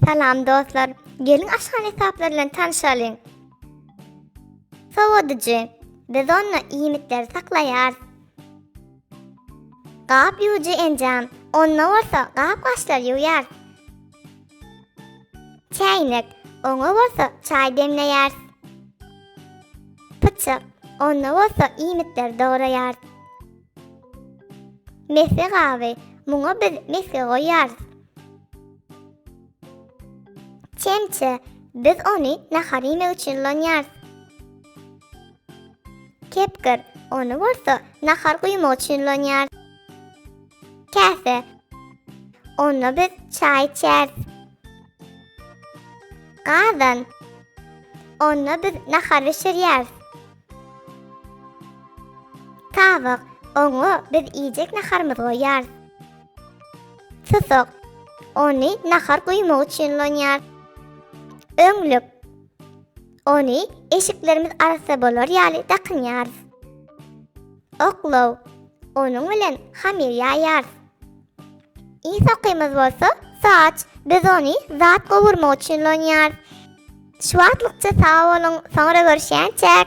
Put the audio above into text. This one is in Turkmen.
Salam dostlar. Gelin aşhane hesaplar bilen tanışalyň. Sowadyjy. Biz onda iýmitleri saklaýarys. Gap ýuwujy enjam. Onda bolsa gap gaşlar ýuwýar. Çäýnek, oňa bolsa çaý demleýäris. Pyçak, onda bolsa iýmitleri dograýarys. Mesge gaby, muňa biz mesge goýýarys. Çemçe, biz ony nahar iýmek üçin ulanýarys. Kepgir, ony bolsa nahar guýmak üçin ulanýarys. Käse. Onda biz çaý içýäris. Gazan. Onda biz nahar bişirýäris. Tabak. Oňa biz iýjek naharymyzy goýýarys. Susak. Ony nahar guýmak üçin ulanýarys. Öňlük. Ony eşiklerimiz arassa bolar ýaly dakynýarys. Oklaw, onuň bilen hamir ýaýarys. Ýygy sokymyz bolsa saç, biz ony zat gowurmak üçin ulanýarys. Şu wagtlykça sag boluň, soňra görüşýänçäk!